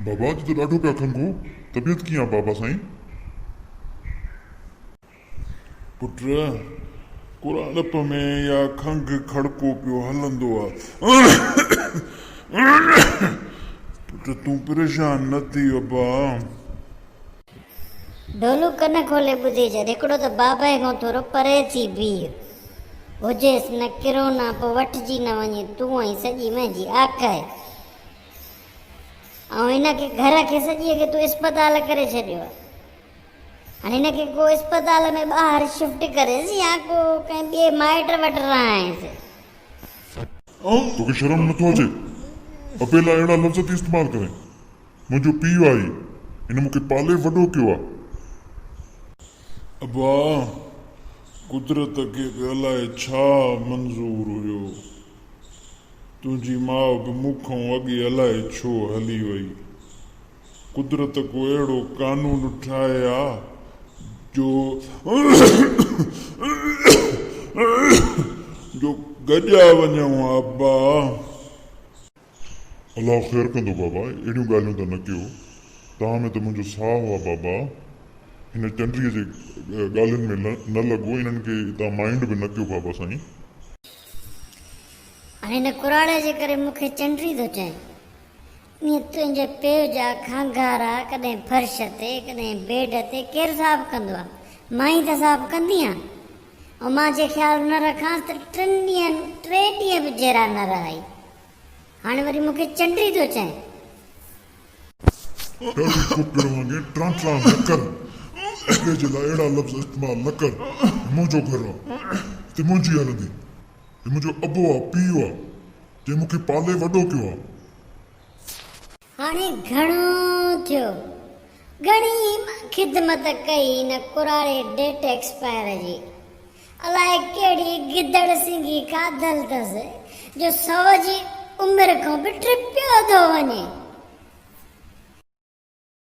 بابا اڄ ته ڏاڍو پيا کنگهو، طبيعت ڪيئن آ بابا سائين؟ پٽ ڪراڙپ ۾ اها کنگهه کڙڪو پيو هلندو آ. پٽ تون پريشان نه ٿي ابا. ڍولو ڪن کولي ٻڌي ڇڏ. هڪڙو ته بابائي کان ٿورو پري ٿي بيهه. هجيس نه ڪرونا پوء وٺجي نه وڃي تون ۽ سڄي منهنجي آڪهه. آئون هن کي گهر کي سڄيء کي تون اسپتال ڪري ڇڏيو آهي. هاڻي هن کي ڪو اسپتال ۾ ٻاهر شفٽ ڪريس يا ڪو ڪنهن ٻئي مائٽ وٽ رهائينس. توکي شرم نٿو اچي اپيلا اهڙا لفظ ٿي استعمال ڪرين. منهنجو پيء آهي، هن مون کي پالي وڏو ڪيو آهي. ابا، قدرت کي به الائي ڇا منظور هيو، تنهنجي ماء به مون کان اڳي الائي ڇو هلي وئي. قدرت ڪو اهڙو قانون ٺاهي ها جو گڏجا وڃون ها ابا. الله خير ڪندو بابا اهڙيون ڳالهيون ته نه ڪيو تان ۾ ته منهنجو ساهه آ بابا هن چنڊيء جي ڳالهين ۾ نه لڳو انهن کي تان مائنڊ به نه ڪيو بابا سائين. هاڻي هن ڪراڙي جي ڪري مون کي چنڊي ٿو چئين ايئن تنهنجي پيء جا کانگارا ڪڏهن فرش تي ڪڏهن بيڊ تي ڪير صاف ڪندو آ مان ئي ته صاف ڪندي آ امان جي خيال نه رکانس ته ٽن ڏينهن ٽي ڏينهن به جيرا نه رهائي. هاڻي وري مون کي چنڊي ٿو چئين. ڏاڍي ڪوپڙ وانگي ٽران ٽران نه ڪر. ٻئي جي لاء اهڙا لفظ استعمال نه ڪر. هي منهنجو گهر آ. هتي منهنجي هلندي. هي منهنجو ابو آ، پيء آ، جنهن مون کي پالي وڏو ڪيو آ. هاڻي گهڻو ٿيو. گهڻي خدمت ڪئي هن ڪراڙي ڊيٽ ايڪسپائر جي. الاء ڪهڙي گدڙ سنگهي کاڌل اٿس جو سو جي عمر کان به ٽپيو ٿو وڃي.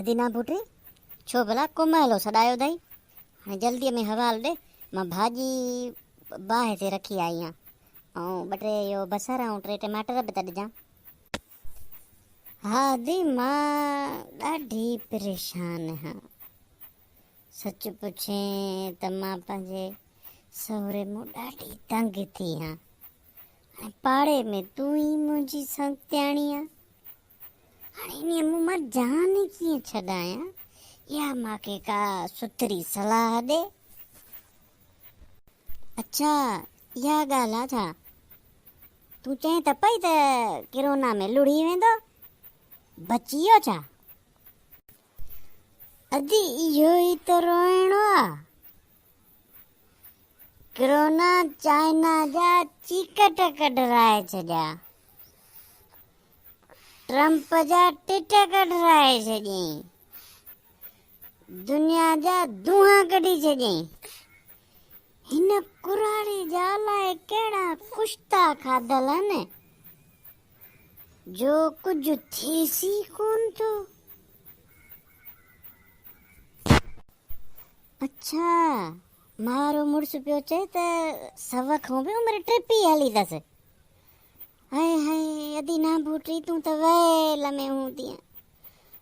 ادينا پٽي، ڇو ڀلا ڪو مهلو سڏايو اٿئي؟ هاڻي جلديء ۾ حوال ڏي، مان ڀاڄي باهه تي رکي آئي آهيان، ۽ ٻه ٽي اهو بصر ۽ ٽي ٽماٽر به ته ڏجان. ها ادي، مان ڏاڍي پريشان آهيان. سچ پڇين ته مان پنهنجي سهري مون ڏاڍي تنگ ٿي آهيان. هاڻي پاڙي ۾ تون ئي منهنجي سنگتياڻي آهين. هاڻي انهيء مون مان جان ڪيئن ڇڏايان، يا مان کي ڪا سٿري صلاح ڏي. اڇا، اها ڳالهه آ ڇا؟ تون چئين ته پئي ته ڪرونا ۾ لڙهي ويندو، بچي ويو ڇا؟ ادي اهو ئي ته روئڻو آ، ڪرونا چائنا جا چيڪٽ ڪڍرائي ڇڏيا، ٽرمپ جا ٽٽ ڪڍرائي ڇڏيائين، دنيا جا دونها ڪڍي ڇڏيائين. هن ڪراڙي جا لاء ڪهڙا ڪشتا کاڌل آهن. جو ڪجهه ٿيس ئي ڪون ٿو. اڇا، مارو مڙس پيو چئي ته سو کان به عمر ٽپي هلي اٿس. هاء هاء، ادي نانڀوٽي تون ته ويل ۾ هوندينء.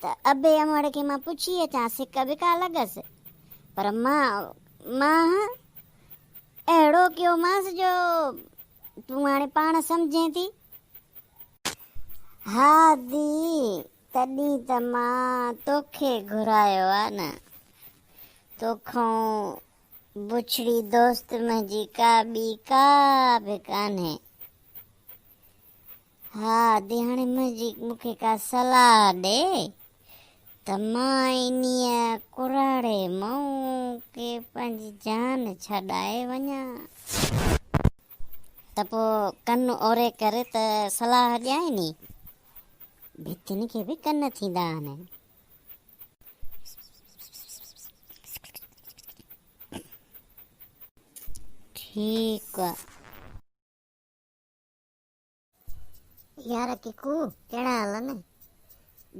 ته ابي امڙ کي مان پڇي اچان سڪ به ڪا لڳس پر مان مان اهڙو ڪيومانس جو تون هاڻي پاڻ سمجهين ٿي. ها ڌي تڏهن ته مان توکي گهرايو آ نه. توکان بڇڙي دوست منهنجي ڪا ٻي ڪا به ڪانهي. ها ديهاڻي منهنجي مون کي ڪا صلاح ڏي ته مان انيء ڪراڙي مئو کي پنهنجي جان ڇڏائي وڃان. ته پوء ڪن اوري ڪر ته صلاح ڏيانء ني. ڀتين کي به ڪن ٿيندا آهن. ٺيڪ آ. يار ڪڪو ڪهڙا حال آهن؟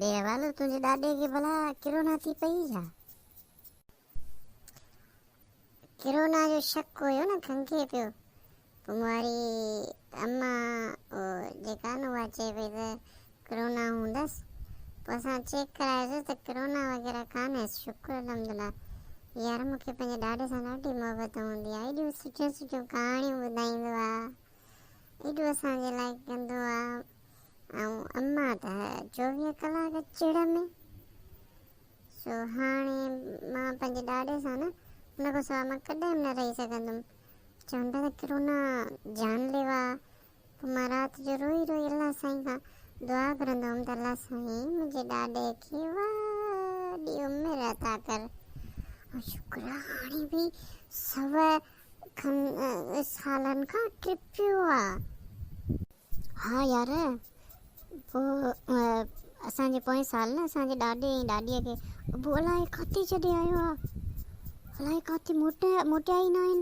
بي احوال تنهنجي ڏاڏي کي ڀلا ڪرونا ٿي پئي ڇا؟ ڪرونا جو شڪ هيو نه کنکي پيو ڪنواري اما جيڪا نه اها چئي پئي ته ڪرونا هوندس پوء اسان چيڪ ڪرايوسي ته ڪرونا وغيره ڪانهي شڪر الحمدلله يار مون کي پنهنجي ڏاڏي سان ڏاڍي محبت هوندي آهي ايڏيون سٺيون سٺيون ڪهاڻيون ٻڌائيندو آهي ايڏو اسان جي لاء ڪندو آ ۽ اما ته چوويهه ڪلاڪ چڙ ۾. سو هاڻي مان پنهنجي ڏاڏي سان نه ان کان سواء مان ڪڏهن به نه رهي سگهندم. چون ٿا ته ڪرونا جان ليوا آ. پوء مان رات جو روئي روئي الله سائين کان دعا گهرندو هوم ته الله سائين منهنجي ڏاڏي کي وڏي عمر عطا ڪر ۽ شڪر آ هاڻي به سوء کن سالن کان ٽپيو آ. ها يار پوء اسان جي پوئين سال نه اسان جي ڏاڏي ۽ ڏاڏيء کي ابو الائي ڪاتي ڇڏي آيو آ. الائي ڪاتي موٽيا ئي ناهن.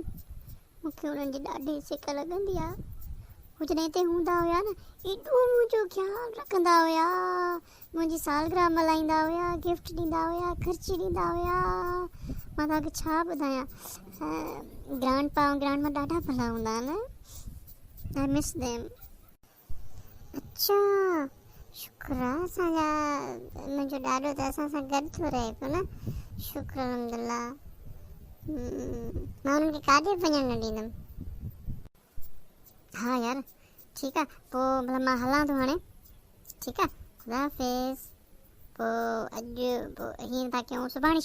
مون کي انهن جي ڏاڍي سڪ لڳندي آ. هو جڏهن هتي هوندا هيا نه ايڏو منهنجو خيال رکندا هيا. منهنجي سالگرهه ملهائيندا هيا، گفٽ ڏيندا هيا، خرچي ڏيندا هيا، مان توهان کي ڇا ٻڌايان. گرانڊ پا ۽ گرانڊ ما ڏاڍا ڀلا هوندا آهن. I miss them. اچا شڪر آ اسان جا منهنجو ڏاڏو ته اسان سان گڏ ٿو رهي پيو نه شڪر الحمدالله مان انهن کي ڪاڏي به وڃڻ نه ڏيندم. ها يار ٺيڪ آ پو ڀلا مان هلان ٿو هاڻي ٺيڪ آ خدا حافظ پو اڄ پو هين ٿا ڪيون سڀاڻي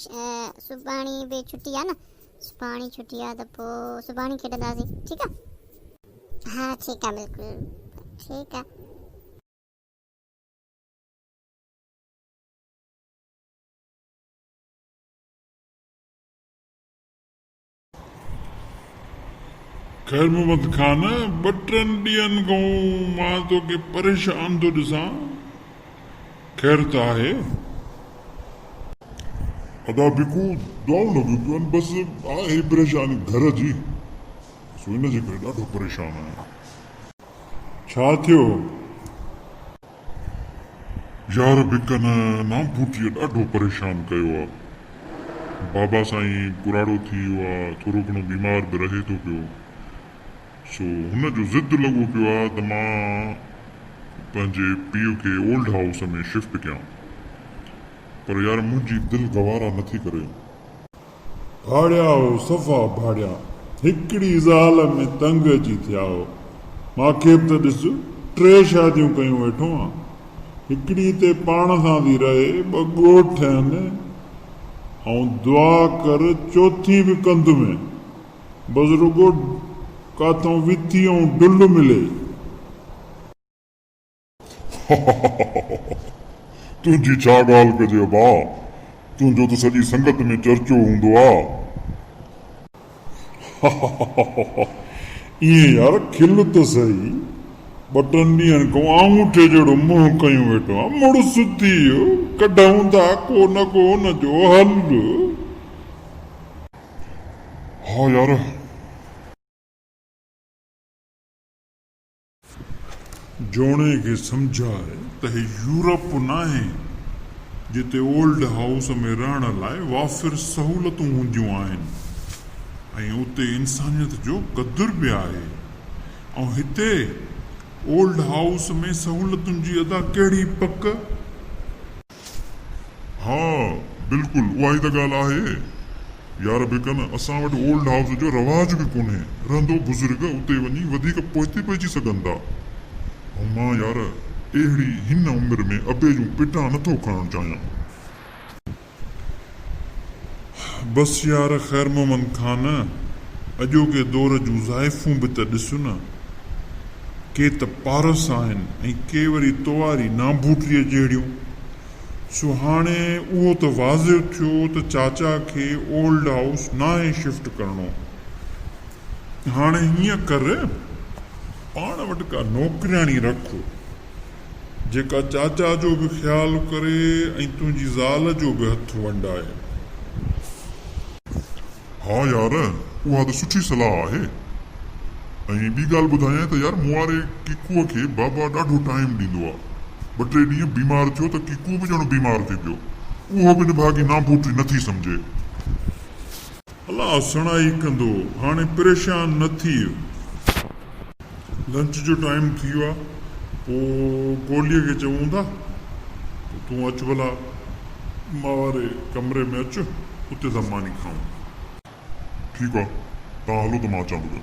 سڀاڻي به ڇٽي آ نه سڀاڻي ڇٽي آ ته پو سڀاڻي کيڏنداسين ٺيڪ آ ها ٺيڪ آ بلڪل ٺيڪ آ خير محمد خان! ٻه ٽن ڏينهن کان مان توکي پريشان ٿو ڏسان، خير ته آهي؟ ادا بيڪو دعائون لڳيون پيون آهن، بس آهي پريشاني گهر جي، سو ان جي ڪري ڏاڍو پريشان آهيان. ڇا ٿيو؟ يار به ڪن نام پورتيء ڏاڍو پريشان ڪيو آ. بابا سائين پراڙو ٿي ويو آ، ٿورو گهڻو بيمار به رهي ٿو پيو. سو هن جو ضد لڳو پيو آ ته مان پنهنجي پيء کي اولڊ هائوس ۾ شفٽ ڪيان. پر يار منهنجي دل گوارا نٿي ڪري. ڀاڙيا هو صفا ڀاڙيا. هڪڙي زال ۾ تنگ اچي ٿيا هو. ماکي به ته ڏس ٽي شاديون ڪيون ويٺو آن. هڪڙي تي پاڻ سان ٿي رهي، ٻه ڳوٺ ٺهن. آئون دعا ڪر چوٿين به ڪنڌ ۾. بس رڳو ڪاٿئون وٿي ۽ ڊل ملي. تنهنجي ڇا ڳالهه ڪجي ابا، تنهنجو ته سڄي سنگت ۾ چرچو هوندو آ. ائين يار کل ته سهي، ٻه ٽن ڏينهن کان آڱوٺي جهڙو منهن ڪيون ويٺو آهيان. مڙس ٿي، ڪڍون ٿا ڪو نه ڪو ان جو حل. ها يار. جوڻيء کي سمجهاء ته هي يورپ ناهي، جتي اولڊ هائوس ۾ رهڻ لاء وافر سهولتون هونديون آهن ۽ اتي انسانيت جو قدر به آهي ۽ هتي اولڊ هائوس ۾ سهولتن جي ادا ڪهڙي پڪ! ها بلڪل اها ئي ته ڳالهه آهي يار بيڪن اسان وٽ اولڊ هائوس جو رواج به ڪونهي رهندو بزرگ اتي وڃي وڌيڪ پوئتي پئجي سگهن ٿا ۽ مان يار اهڙي هن عمر ۾ ابي جون پٽان نٿو کڻڻ چاهيان. بس يار خير محمد خان اڄوڪي دور جون زائفون به ته ڏس نه. ڪي ته پارس آهن ۽ ڪي وري تواري نانڀوٽريء جهڙيون. سو هاڻي اهو ته واضح ٿيو ته چاچا کي اولڊ هائوس ناهي شفٽ ڪرڻو. هاڻي هيئن ڪر پاڻ وٽ ڪا نوڪرياڻي رک. جيڪا چاچا جو به خيال ڪري ۽ تنهنجي زال جو به هٿ ونڊائي. ها يار، اها ته سٺي صلاح آهي. ۽ ٻي ڳالهه ٻڌايانء ته يار مون واري ڪيڪوء کي بابا ڏاڍو ٽائيم ڏيندو آ. ٻه ٽي ڏينهن بيمار ٿيو ته ڪيڪو به ڄڻ بيمار ٿي پيو. اهو به نڀاڳي ناڀوٽي نه ٿي سمجهي. الا سڻائي ڪندو، هاڻي پريشان نه ٿيء. لنچ جو ٽائيم ٿي ويو آهي پوء گوليء کي چئون ٿا ته تون اچ ڀلا مان واري ڪمري ۾ اچ اتي ٿا ماني کائون. ٺيڪ آهي توهان هلو ته مان اچان ٿو پيو.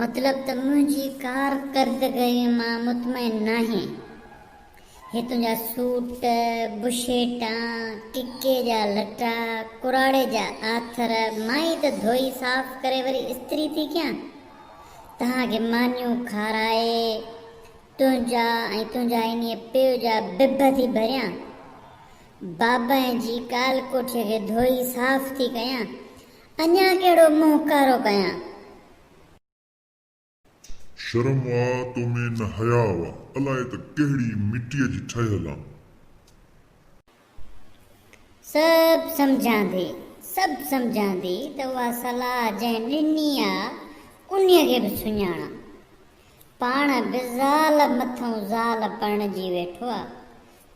مطلب ته منهنجي ڪارڪردگيء مان مطمئن ناهين. هي تنهنجا سوٽ، بشيٽا، ڪڪي جا لٽا، ڪراڙي جا آٿر مان ئي ته ڌوئي صاف ڪري وري استري ٿي ڪيان. توهان کي مانيون کارائي، تنهنجا ۽ تنهنجا انهيء پيء جا ببه ٿي ڀريان. بابائن جي ڪالڪوٺيء کي ڌوئي صاف ٿي ڪيان. اڃا ڪهڙو منهن ڪارو ڪيان. شرم آ تو ۾ نه حياء آ. الائي ته ڪهڙي مٽيء جي ٺهيل آن. سڀ سمجهان ٿي، سڀ سمجهان ٿي ته اها صلاح جنهن ڏني آ، انهيء کي به سڃاڻان. پاڻ به زال مٿئون زال پرڻجي ويٺو آ.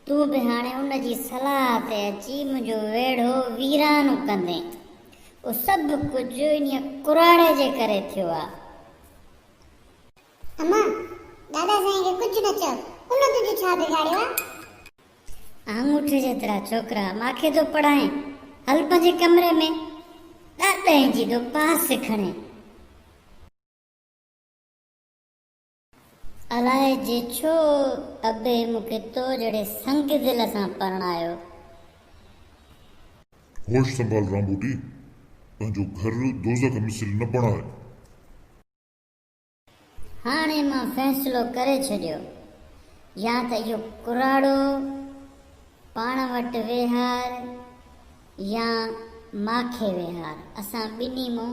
تون به هاڻي ان جي صلاح تي اچي منهنجو ويڙهو ويران ڪندين. اهو سڀ ڪجهه انهيء ڪراڙي جي ڪري ٿيو آ. اما! دادا سائين کي ڪجهه نه چئو. ان تنهنجو ڇا بگاڙيو آ؟ آڱوٺي جيترا ڇوڪرا ماکي ٿو پڙهائين. هل پنهنجي ڪمري ۾. ڏهه ڏهين جي ٿو پاس کڻين. الاهي جي ڇو ابي مون کي تو جهڙي سنگ دل سان پرڻايو. هوش سنڀال رامبوٽي پنهنجو گهر دوزخ مثل نه بڻاء. هاڻي مان فيصلو ڪري ڇڏيو يا ته اهو ڪراڙو پاڻ وٽ ويهار يا ماکي ويهار اسان ٻنهي مان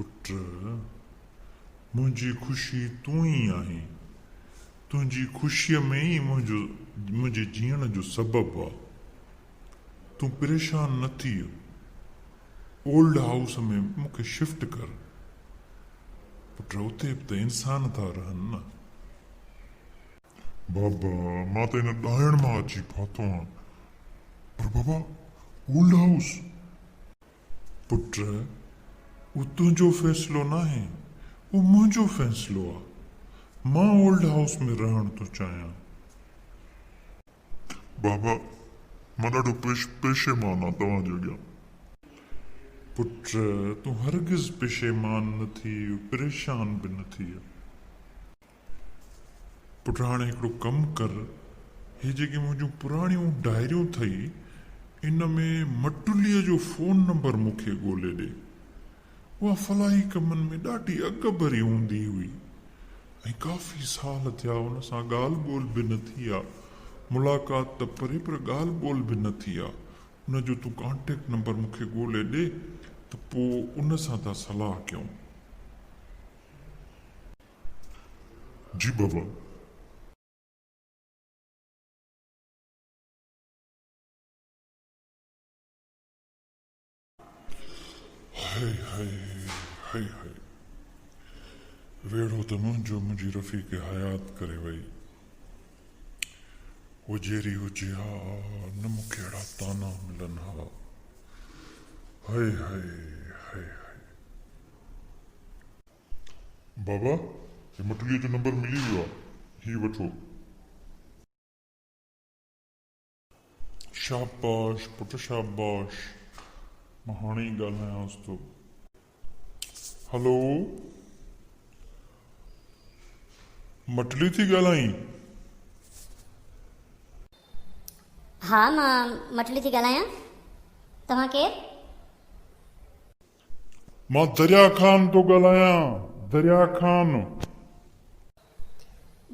پٽ! منهنجي خوشي تون ئي آهين. تنهنجي خوشيء ۾ ئي منهنجي جيئڻ جو سبب آ. تون پريشان نه ٿيء. اولڊ هائوس ۾ مون کي شفٽ ڪر. پٽ! اتي به ته انسان ٿا رهن نه. بابا، مان ته هن ڏاهڻ مان اچي ڦاٿو آهيان. پر بابا، اولڊ هائوس؟ پٽ، اهو تنهنجو فيصلو ناهي، اهو منهنجو فيصلو آهي. مان اولڊ هائوس ۾ رهڻ ٿو چاهيان. بابا، مان ڏاڍو پيشيمان آهيان توهان جي اڳيان. پٽ، تون هرگز پيشيمان نه ٿيء، پريشان به نه ٿيء. پٽ هاڻي هڪڙو ڪم ڪر هي جيڪي منهنجون پراڻيون ڊائريون ٿئي ان ۾ مٽلي جو فون نمبر مون کي ڳولي ڏي اها فلاحي ڪمن ۾ ڏاڍي اڳ ڀري هوندي هئي ۽ ڪافي سال ٿيا ان سان ڳالهه ٻولهه به نه ٿي آ ملاقات ته پري پر ڳالهه ٻولهه به نه ٿي آ ان جو تون ڪانٽيڪٽ نمبر مون کي ڳولي ڏي ته پوء ان سان ٿا صلاح ڪيون. جي بابا. هائي هائي هائي هائي. ويڙهو ته منهنجو منهنجي رفيق حيات ڪري وئي. هوء جيري هجي ها نه مون کي اهڙا طعنا ملن ها. هائي هائي هائي هائي. بابا هي مٺليء جو نمبر ملي ويو آهي، هي وٺو. شاباش پٽ شاباش، مان هاڻي ئي ڳالهايانس ٿو. هلو، مٺلي ٿي ڳالهائين؟ ها مان مٺلي ٿي ڳالهايان، توهان ڪير؟ مان دريا خان ٿو ڳالهايان، دريا خان.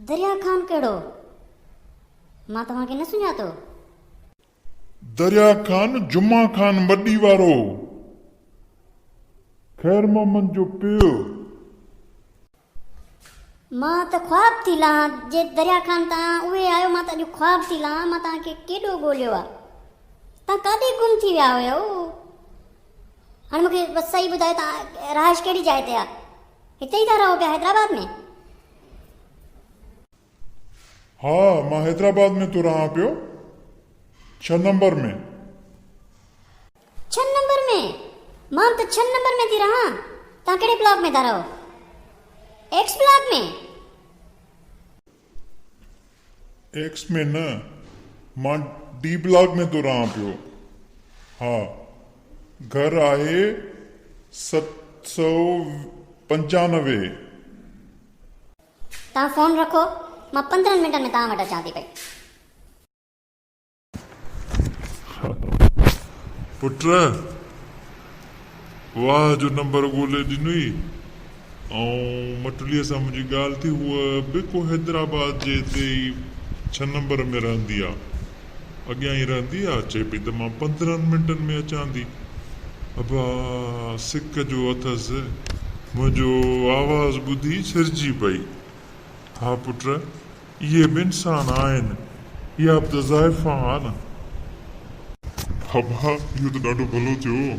دريا خان ڪهڙو؟ مان توهان کي نه سڃاتو. دريا خان جمعه خان مڏي وارو، خيرمحمد جو پيء. مان ته خواب ٿي لهان جي دريا خان تان اهي آيو مان ته اڄ خواب ٿي لهان مان تان کي ڪيڏو ڳوليو آ تان ڪاڏي گم ٿي ويا هيو هن مون کي بس صحيح ٻڌايو تان رهائش ڪهڙي جاء تي آ هتي ئي ٿا رهو پيا حيدرآباد ۾ ها مان حيدرآباد ۾ ٿو رهان پيو ڇهه نمبر ۾. ڇهه نمبر ۾! مان ته ڇهه نمبر ۾ ٿي رهان توهان ڪهڙي بلاڪ ۾ ٿا رهو؟ X block ۾! ايڪس ۾ نه مان ڊي بلاڪ ۾ ٿو رهان پيو ها گهر آهي ست سؤ پنجانوي. توهان فون رکو، مان پندرهن منٽن ۾ توهان وٽ اچان ٿي پئي. پٽ واهه جو نمبر ڳولي ڏنوئي ۽ مٽليء سان منهنجي ڳالهه ٿي. هوء به ڪو حيدرآباد جي اتي ئي ڇهه نمبر ۾ رهندي آ. اڳيان ئي رهندي آ، اچي پئي ته مان پندرهن منٽن ۾ اچان ٿي. ابا سڪ جو اٿس، منهنجو آواز ٻڌي سرجي پئي. ها پٽ، اهي به انسان آهن، اها به ته زائفان آ نه. ابا اهو ته ڏاڍو ڀلو ٿيو،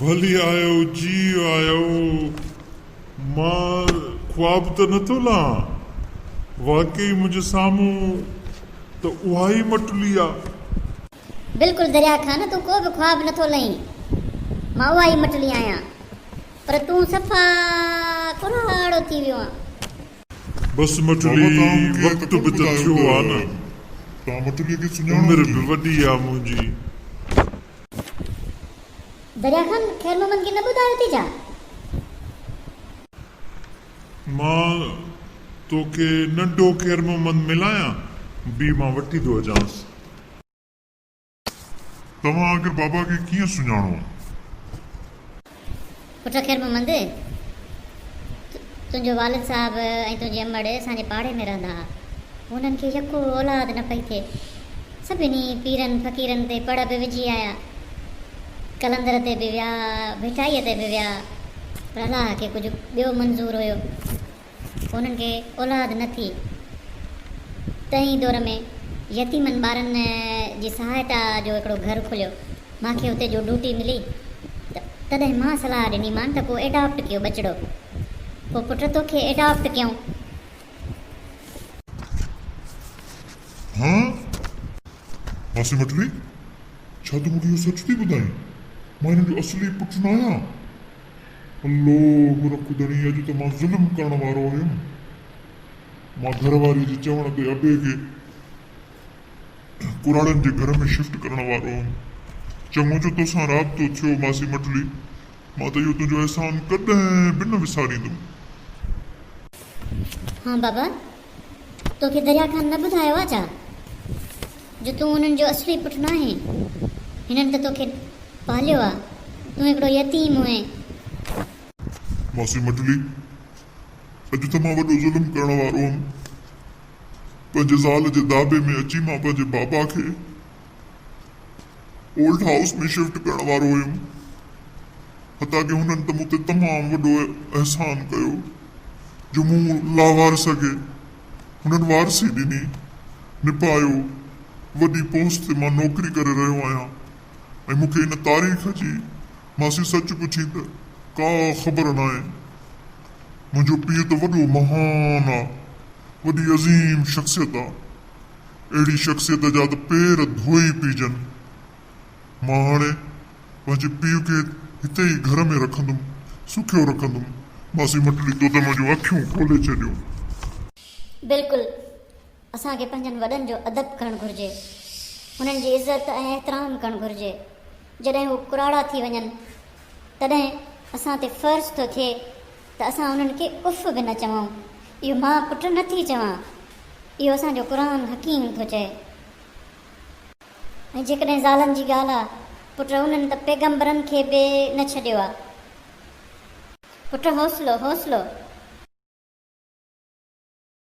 ڀلي آيو جي آيو مان خواب ته نه ٿو لهان واقعي منهنجي سامهون ته اها ئي مٽلي آ. بلڪل دريا خان تون ڪو به خواب نه ٿو لهين مان اها ئي مٽلي آهيان پر تون صفا ڪلهاڙو ٿي ويو آن. بس مٽلي وقت به ته ٿيو آ نه عمر به وڏي آ منهنجي. دريا خان خير محمد کي نه ٻڌايو ٿي ڇا؟ مان توکي ننڍو خير محمد ملايان بي مان وٺي ٿو اچانس. توهان آخر بابا کي ڪيئن سڃاڻو؟ پٽ خير محمد، تنهنجو والد صاحب ۽ تنهنجي امڙ اسان جي پاڙي ۾ رهندا ها. هنن کي يڪو اولاد نه پئي ٿئي. سڀني پيرن فقيرن تي پڙ به وجهي آيا. قلندر تي به ويا، ڀٽائيء تي به ويا، پر الله کي ڪجهه ٻيو منظور هيو. انهن کي اولاد نه ٿي. تنهن ئي دور ۾ يتيمن ٻارن جي سهائتا جو هڪڙو گهر کليو. مان کي اتي جو ڊوٽي ملي ته تڏهن مان صلاح ڏني مان ته ڪو ايڊاپٽ ڪيو ٻچڙو. پوء پٽ توکي ايڊاپٽ ڪيون. هان هاسي مٽلي، ڇا تون مون کي اهو سچ ٿي ٻڌائين؟ مان هنن جو اصلي پٽ ناهيان. لوھ رک ڌڻي اڄ ته مان ظلم ڪرڻ وارو هيم. مان گهر واري جي چوڻ تي ابي کي ڪراڙن جي گهر ۾ شفٽ ڪرڻ وارو هيم. چڱو جو توسان رابطو ٿيو ماسي مٺلي. مان ته اهو تنهنجو احسان ڪڏهن به نه وساريندم. ها بابا توکي دريا خان نه ٻڌايو آ ڇا جو تون انهن جو اصلي پٽ ناهين. هنن ته توکي پاليو آ. تون هڪڙو يتيم هئين. ماسي مٽلي، اڄ ته مان وڏو ظلم ڪرڻ وارو هئم. پنهنجي زال جي داٻي ۾ اچي مان پنهنجي بابا کي. اولڊ هائوس ۾ شفٽ ڪرڻ وارو هيم، حتيٰ ڪي هنن ته مون تي تمام وڏو احسان ڪيو جو مون لاوارث کي هنن وارثي ڏني، نڀايو، وڏي پوسٽ تي مان نوڪري ڪري رهيو آهيان ۽ مون کي ان تاريخ جي ماسي سچ پڇين ته ڪا خبر ناهي، منهنجو پيء ته وڏو مهان آ، وڏي عظيم شخصيت آ. اهڙي شخصيت جا ته پير ڌوئي پيجن. مان هاڻي پنهنجي پيء کي هتي ئي گهر ۾ رکندم، سکيو رکندم. ماسي مٽلي دودم جون اکيون کولي ڇڏيون. بلڪل، اسان کي پنهنجن وڏن جو ادب ڪرڻ گهرجي. هنن جي عزت ۽ احترام ڪرڻ گهرجي. جڏهن هو ڪراڙا ٿي وڃن، تڏهن اسان تي فرض ٿو ٿئي. ته اسان انهن کي اف به نه چئون، اهو مان پٽ نه ٿي چوان، اهو اسان جو قرآن حڪيم ٿو چئي. ۽ جيڪڏهن زالن جي ڳالهه آ پٽ انهن ته پيغمبرن کي به نه ڇڏيو آ. پٽ حوصلو، حوصلو.